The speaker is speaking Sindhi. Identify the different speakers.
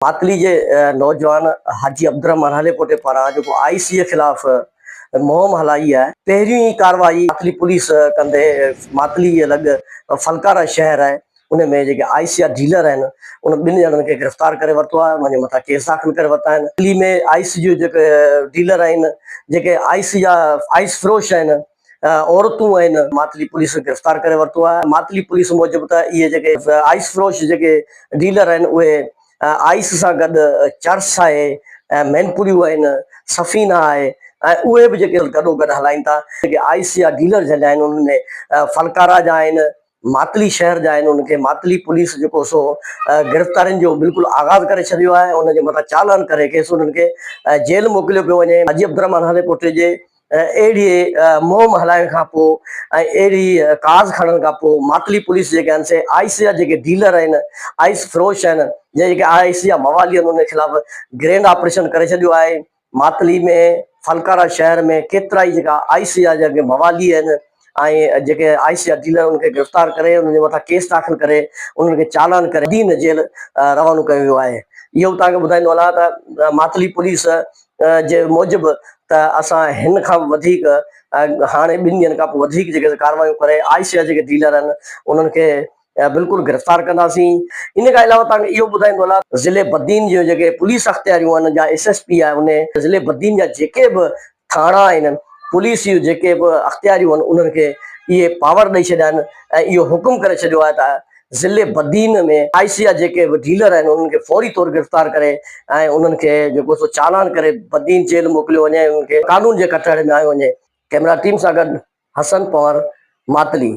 Speaker 1: ماتلي جي نوجوان حاجي عبدالرحمان هاليپوٽي پاران جيڪو آء سي خلاف مهم هلائي آهي پهريون ئي ڪارروائي ماتلي پوليس ڪندي ماتلي جي لڳ فلڪارا شهر آهي ان ۾ جيڪي آء سي جا ڊيلر آهن ان ٻن ڄڻن کي گرفتار ڪري ورتو آهي انهن جي مٿان ڪيس داخل ڪري ورتا آهن ماتلي ۾ آء سي جي جيڪي ڊيلر آهن جيڪي آء سي جا آئس فروش آهن عورتون آهن ماتلي پوليس گرفتار ڪري ورتو آهي ماتلي پوليس موجب ته اهي جيڪي آئس فروش جيڪي ڊيلر آهن اهي آئس سان گڏ چرس آهي ۽ مينپوريون آهن سفينا آهي ۽ اهي به جيڪي گڏو گڏ هلائين ٿا جيڪي آئس جا ڊيلر جن جا آهن انهن ۾ ڦلڪارا جا آهن ماتلي شهر جا آهن انهن کي ماتلي پوليس جيڪو سو گرفتارين جو بلڪل آغاز ڪري ڇڏيو آهي انهن جي مٿان چالان ڪري کيس انهن کي جيل موڪليو پيو وڃي حاجي عبدالرحمان هاليڪوٽي جي اهڙي مهم هلائڻ کان پوء ۽ اهڙي ڪاز کڻڻ کان پوء ماتلي پوليس جيڪي آهن سي آئيس جا جيڪي ڊيلر آهن، آئيس فروش آهن يا جيڪي آئيس جا موالي آهن انهن خلاف گرينڊ آپريشن ڪري ڇڏيو آهي. ماتلي ۾ فلڪارا شهر ۾ ڪيترائي جيڪا آئيس جا جيڪي موالي آهن، ۽ جيڪي آء سي جا ڊيلر انهن کي گرفتار ڪري انهن جي مٿان ڪيس داخل ڪري انهن کي چالان ڪري بدين جيل روانو ڪيو ويو آهي اهو به توهان کي ٻڌائيندو هلان ته ماتلي پوليس جي موجب ته اسان هن کان به وڌيڪ هاڻي ٻن ڏينهن کان پوء وڌيڪ جيڪي ڪارروايون ڪري آء سي جا جيڪي ڊيلر آهن انهن کي بلڪل گرفتار ڪنداسين ان کان علاوه توهان کي اهو ٻڌائيندو هلا ضلعي بدين جون جيڪي پوليس اختياريون آهن جا ايس ايس پي آهي ان ضلعي بدين جا جيڪي به ٿاڻا آهن پوليس جون جيڪي به اختياريون آهن انهن کي اهي پاور ڏئي ڇڏيا آهن ۽ اهو حڪم ڪري ڇڏيو آهي ته ضلعي بدين ۾ آئي سي جا جيڪي به ڊيلر آهن انهن کي فوري طور گرفتار ڪري ۽ انهن کي جيڪو سو چالان ڪري بدين جيل موڪليو وڃي ۽ انهن کي قانون جي ڪٽهڙي ۾ آيو وڃي ڪئميرا ٽيم سان گڏ حسن پنهور ماتلي.